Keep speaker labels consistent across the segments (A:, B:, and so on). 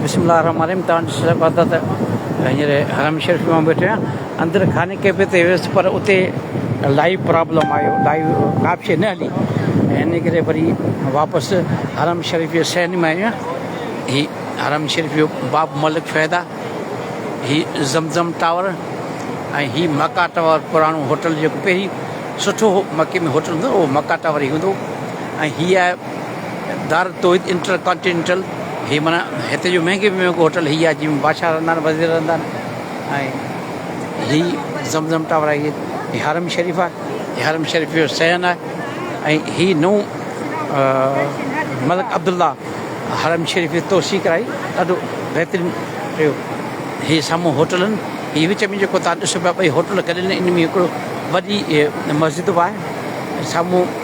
A: بسم الله الرحمن الرحيم توهان ڏسي سگهو ٿا ته هينئر حرم شريف ۾ ويٺو آهيان اندر خانه ڪعبي تي ويس پر اتي لائيو پرابلم آيو لائيو ڪاپ شي نه هلي ان ڪري وري واپس حرم شريف جي سين ۾ آيو هي حرم شريف جو باب ملڪ فيدا هي زمزم ٽاور ۽ هي مکا ٽاور پراڻو هوٽل جيڪو پهرين سٺو هو مکي ۾ هوٽل هوندو هو مکا ٽاور هي هوندو ۽ هي آهي دار التوحيد انٽر ڪانٽينينٽل هي معنيٰ هتي جو مهنگي ۾ مهنگو هوٽل هي آهي جنهن ۾ بادشاهه رهندا آهن وزير رهندا آهن ۽ هي زم زم ٽاور آهي هي حرم شريف آهي هي حرم شريف جو صحن آهي ۽ هي نئون ملڪ عبدالله حرم شريف جي توسيع ڪرائي ڏاڍو بهترين ٺهيو هي سامهون هوٽل آهن هي وچ ۾ جيڪو تان ڏسو پيا ٻئي هوٽل گڏيل آهن ان ۾ هڪڙو وڏي مسجد به آهي سامهون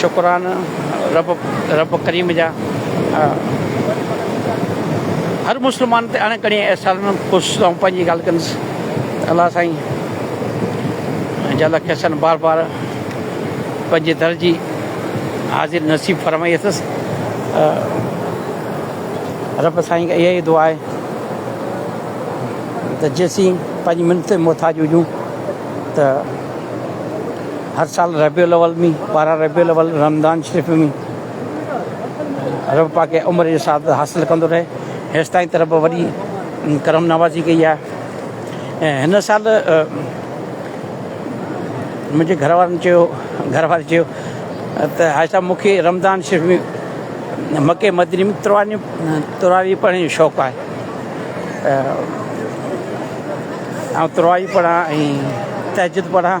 A: شڪران رب رب ڪريم جا هر مسلمان تي اڻ ڪڻي احسان خوش آئون پنهنجي ڳالهه ڪندس الله سائين جا لک احسان بار بار پنهنجي در جي حاضر نصيب فرمائي اٿس رب سائين اها ئي دعا آهي ته جيسين پنهنجي منت محتاج هجون ته هر سال ربيع الاول ۾ ٻارهن ربيع الاول رمضان شريف ۾ رب پاڪ کي عمر جي سعادت حاصل ڪندو رهي هيستائين ته رب وڏي ڪرم نوازي ڪئي آهي ۽ هن سال منهنجي گهر وارن چيو گهر واري چيو ته حاجي صاحب مون کي رمضان شريف ۾ مکي مدني ۾ تراري تراري پڙهڻ جو شوق آهي آئون تراري پڙهان ۽ تهجد پڙهان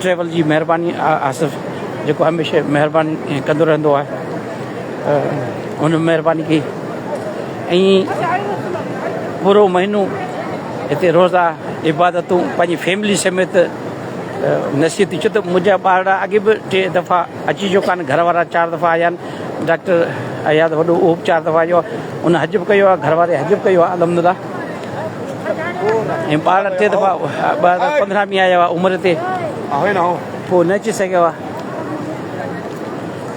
A: ٽريول جي مهرباني آصف جيڪو هميشه مهرباني ڪندو رهندو آهي هن مهرباني ڪئي ۽ پورو مهينو هتي روزا عبادتون پنهنجي فيملي سميت نصيحت ٿي چيو ته منهنجا ٻارڙا اڳي به ٽي دفعا اچي چڪا آهن گهر وارا چار دفعا آيا آهن ڊاڪٽر اياز وڏو اهو به چار دفعا آيو آهي ان حج به ڪيو آهي گهر واري حج به ڪيو آهي الحمد لله ۽ ٻار ٽي دفعا ٻار پندرهن ڏينهن آيا هئا عمر تي پوء نه اچي سگهيا هئا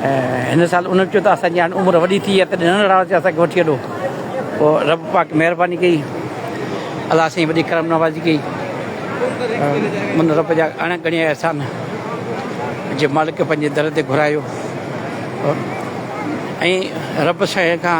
A: ۽ هن سال انهن چيو ته اسان جي هاڻي عمر وڏي ٿي وئي تڏهن ننڍڙا هئاسين اسان کي وٺي هلو پوء رب پاڪ مهرباني ڪئي الله سائين وڏي ڪرم نوازي ڪئي من رب جا اڻ ڳڻيا احسان جي مالڪ پنهنجي در تي گهرايو ۽ رب سائين کان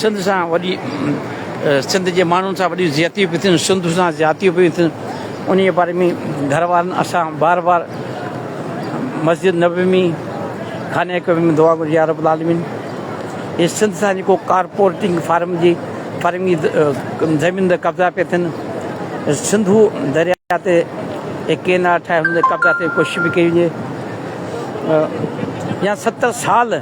A: سنڌ سان وڏي سنڌ جي ماڻهن سان وڏيون زيادتيون پيون ٿين سنڌ سان زيادتيون پيون ٿين ان جي باري ۾ گهر وارن اسان بار بار مسجد نبوي ۾ خانه ڪعبي ۾ دعا گهرجي يا رب العالمين هي سنڌ سان جيڪو ڪارپوريٽنگ فارم جي فارم جي زمين تي قبضا پيا ٿين سنڌو درياء تي هي ڪينال ٺاهي هن تي قبضا ٿي ڪوشش به ڪئي وڃي يا ستر سال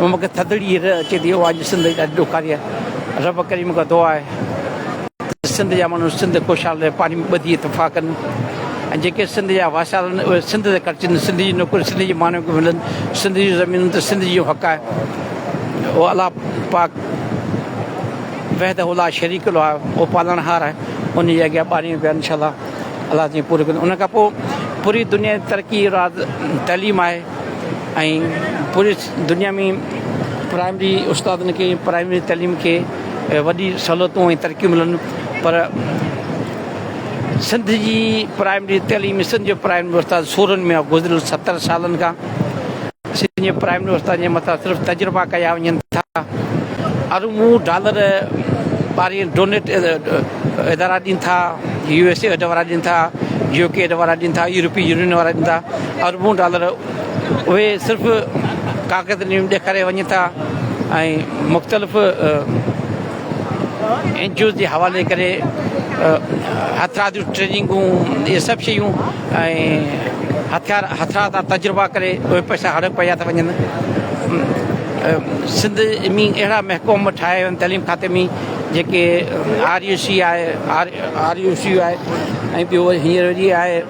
A: مون کي ٿڌڙي هير اچي ٿي اها اڄ سنڌ جي ڏاڍي ڏکاري آهي رب ڪريم کان دعا آهي ته سنڌ جا ماڻهو سنڌ خوشحال رهي پاڻي ۾ ٻڌي اتفاق ڪن ۽ جيڪي سنڌ جا واسال آهن اهي سنڌ تي خرچن سنڌ جي نوڪري سنڌ جي ماڻهن کي ملن سنڌ جون زمينون ته سنڌ جو حق آهي اهو الله پاڪ وحده الله شريڪ الله آهي اهو پالڻهار آهي ان جي اڳيان ٻاريون پيا انشاء الله الله تائين پوري ڪن ان کان پوء پوري دنيا جي ترقي راز تعليم آهي ۽ پوري دنيا ۾ پرائمري استادن کي پرائمري تعليم کي وڏي سھولتون ۽ ترقيون ملن پر سنڌ جي پرائمري تعليم سنڌ جو پرائمري استاد سورن ۾ گذريل ستر سالن کان سنڌ جي پرائمري استاد جي مٿان صرف تجربا ڪيا وڃن ٿا اربون ڊالر ٻاري ڊونيٽ ادارا ڏين ٿا يو ايس ايڊ وارا ڏين ٿا يو ڪي ايڊ وارا ڏين ٿا يورپي يونين وارا ڏين ٿا اربون ڊالر اهي صرف ڪاغذ ۾ ڏيکاريا وڃن ٿا ۽ مختلف اين جي اوز جي حوالي ڪري هٿيار جون ٽريننگون اهي سڀ شيون هٿيار هٿيار جا تجربا ڪري اهي پئسا هڙپ ڪيا ٿا وڃن سنڌ ۾ اهڙا محکوم ٺاهيا ويا آهن تعليم کاتي ۾ جيڪي آر يو سي آهي آر يو سي آهي ۽ ٻيو وري هينئر جي آهي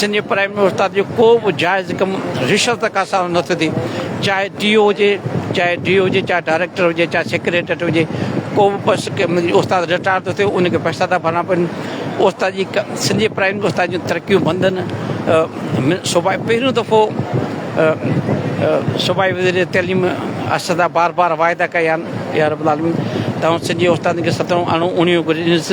A: سنڌ پرائمري استاد جو ڪو به جائز ڪم رشوت کا سواء نه ٿو ٿئي چاهي ٽي او هجي چاهي ڊي او هجي چاهي ڊائريڪٽر هجي چاهي سيڪريٽريٽ هجي ڪو به بس استاد رٽائر ٿو ٿئي ان کي پئسا ٿا ڀرڻا پون استاد جي سنڌي پرائمري استاد جون ترقيون بندن صوبائي پهريون دفعو صوبائي وزير تعليم اسدا بار بار واعدا ڪيا آهن يا رب العالمين تون سنڌي استادن کي ستون اڻو اڻيون گهرجنس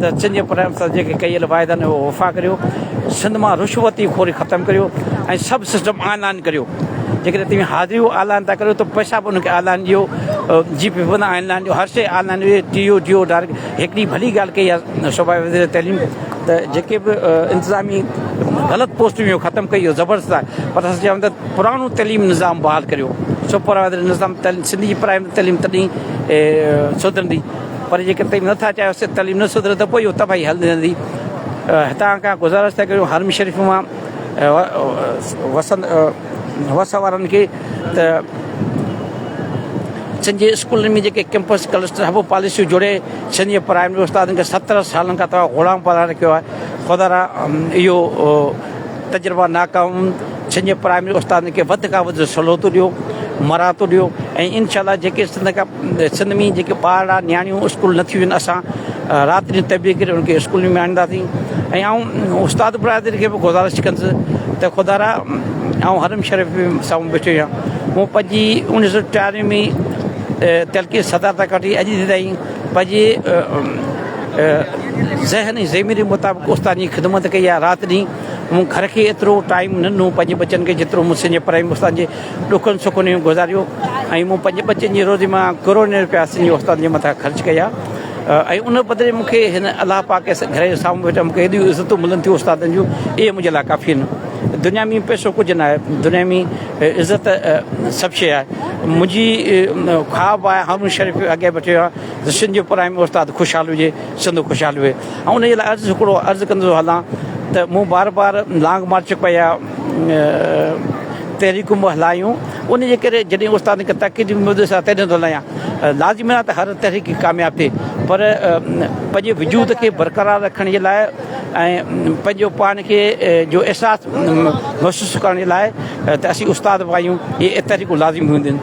A: ته سنڌ جي پرائم منسٽر جيڪي ڪيل واعدا آهن اهي وفا ڪريو، سنڌ مان رشوتي خوري ختم ڪريو ۽ سڀ سسٽم آن لائن ڪريو، جيڪڏهن توهين حاضريون آن لائن ٿا ڪريو ته پئسا به ان کي آن لائن ڏيو، G P P online ڏيو، هر شيء آن لائن ڏيو، T O D O direct هڪڙي ڀلي ڳالهه ڪئي آهي صوبائي وزير تعليم ته جيڪي به انتظامي غلط پوسٽون هيون ختم ڪئي اهو زبردست آهي پر اسان چيو ته پراڻو تعليم نظام بحال ڪريو سپروائزر نظام سنڌ جي پرائمري تعليم تڏهن سڌرندي. پر جيڪڏهن تنهن نه ٿا چاهيو سنڌ تعليم نه سڌري ته پوء اهو تباهي هلندي هتان کان گذارش ٿا ڪريون حرم شريف مان وس وارن کي ته سنڌ جي اسڪولن ۾ جيڪي ڪيمپس ڪلسٽر هبو پاليسيون جوڙي سنڌ جي پرائمري استادن کي ستر سالن کان توهان غلام بڻائي رکيو آهي خدا را اهو تجربا ناڪام سنڌ جي پرائمري استادن کي وڌ کان وڌ سھولتون ڏيو مراعتون ڏيو ۽ انشاء الله جيڪي سنڌ کان سنڌ ۾ جيڪي ٻار آ نياڻيون اسڪول نه ٿيون آھن اسان رات ڏينھن تبي ڪري ان کي اسڪولن ۾ آڻينداسين ۽ آئون استاد برادري کي به گذارش ڪنس ته خدا را آئون حرم شريف ۾ سامھون بيٺو آھيان مون پنھنجي انيس سو ٽيانوي ۾ تلقين صدر تان ڪڍي اڄ جي تائين پنھنجي ذھن ۽ ضميري مطابق استاد جي خدمت ڪئي آ رات ڏينھن مون گهر کي ايترو ٽائيم نه ڏنو پنهنجي ٻچن کي جيترو مون سنهنجي پرائمري استاد جي ڏکن سکن ۾ گذاريو ۽ مون پنهنجي ٻچن جي روزي مان ڪروڙين روپيا سنهنجي استاد جي مٿان خرچ ڪيا ۽ ان بدلي مون کي هن الله پاڪ کي گهر جي سامهون ويٺل مون کي ايڏيون عزتون ملن ٿيون استادن جون اهي منهنجي لاء ڪافي آهن دنيا ۾ پئسو ڪجهه نه آهي دنيا ۾ عزت سڀ شيء آهي منهنجي خواب آهي هارون شريف اڳيان به چيو آهي سنهنجو پرائمري استاد خوشحال هجي سنڌو خوشحال هئي آئون انهيء لاء عرض هڪڙو عرض ڪندو ٿو هلان ته مون بار بار لانگ مارچ ڪئي آ تحريڪون به هلايون ان جي ڪري جڏهن استاد کي تاڪيد به ملندس آ تڏهن ٿو هلايان لازمي نه ته هر تحريڪ ڪامياب ٿئي پر پنهنجي وجود کي برقرار رکڻ جي لاء ۽ پنهنجو پاڻ کي جو احساس محسوس ڪرڻ جي لاء ته اسين استاد به آهيون هي تحريڪون لازمي هونديون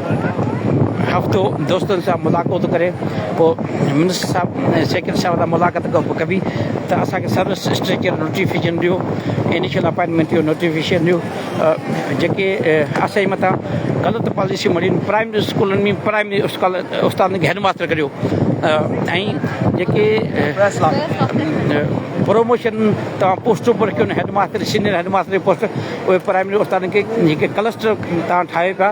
A: هفتو دوستن سان ملاقاتون ڪري پوء منسٽر صاحب ۽ سيڪريٽري صاحب سان ملاقات ڪبي ته اسان کي سروس اسٽريڪچر نوٽيفڪيشن ڏيو انيشل اپائنٽمينٽ جو نوٽيفڪيشن ڏيو جيڪي اسان جي مٿان غلط پاليسيون مڙهين پرائمري اسڪولن ۾ پرائمري اسڪول استادن کي هيڊ ماستر ڪريو ۽ جيڪي پروموشن تان پوسٽون پر ڪيون headmaster senior headmaster جي پوسٽ اهي پرائمري استادن کي جيڪي ڪلسٽر تان ٺاهي پيا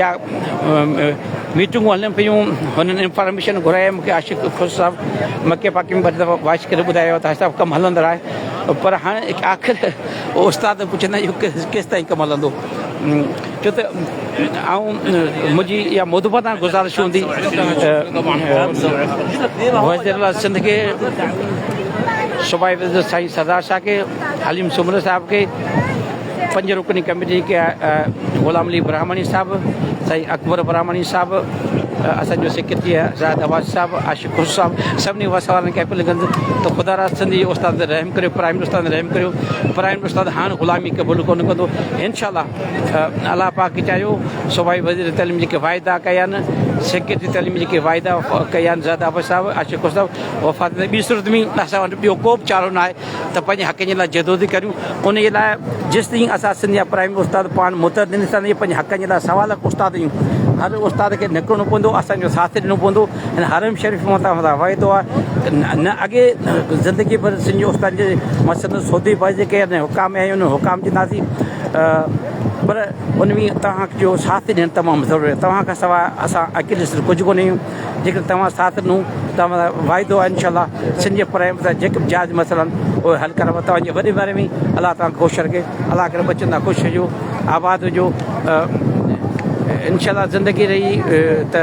A: يا ميٽنگون هلن پيون هن انفارميشن گهرائي مونکي عاشق خوش صاحب مڪي پاڪي ۾ ٻه ٽي دفعا وائس ڪري ٻڌايو ته حاجي صاحب ڪم هلندڙ آهي پر هاڻي آخر استاد پڇندا اهو ڪيستائين ڪم هلندو ڇو ته آئون منهنجي اها مدبتان گذارش هوندي وزيراعليٰ سنڌ کي صوبائي وزير سائين سردار شاهه کي حليم سومري صاحب کي پنج رڪني ڪميٽي جيڪي غلام علي براهمڻي صاحب، سائين اڪبر براهمڻي صاحب، اسان جو سيڪريٽري زاهد احواز صاحب، عاشق خسرو صاحب سڀني وس وارن کي اپيل ڪندس ته خدا را سنڌي استاد تي رحم ڪريو پرائمري استاد تي رحم ڪريو پرائمري استاد هاڻ غلامي قبول ڪونه ڪندو انشاءالله الله پاڪ چاهيو صوبائي وزير تعليم جيڪي واعدا ڪيا آهن سيڪريٽري تعليم جيڪي واعدا ڪيا آهن زاهد احواز صاحب عاشق خسرو صاحب وفات ۾ ٻي صورت ۾ اسان وٽ ٻيو ڪو به چارو ناهي ته پنهنجي حقن جي لاء جدوجهد ڪريون انهي لاء جيستائين اسان سنڌ جا پرائمري استاد پاڻ متحد نه ٿيندا ته پنهنجي حقن جي لاء سوا لک استاد آهيون هر استاد کي نڪرڻو پوندو اسان جو ساٿ ڏيڻو پوندو هن حرم شريف مان توهان سان وعدو آهي نه اڳي زندگي پر سنڌ جي استاد جي مسند سودي باز جي ڪير نه حڪام آهي انهن حڪام جي ناسي پر ان ۾ توهان جو ساٿ ڏيڻ تمام ضروري توهان کان سوا اسان اڪيلي سر ڪجهه ڪونه آهيون جيڪڏهن توهان ساٿ ڏنو ته وعدو آهي انشاء الله سنڌ جي پرائمري تائين جيڪي به جائز مسئلا آهن اهي حل ڪرڻ توهان جي وڏي مھرباني الله توهان کي خوش رکي الله ڪري ٻچن سان خوش ھجو آباد ھجو انشاء الله زندگي رھي ته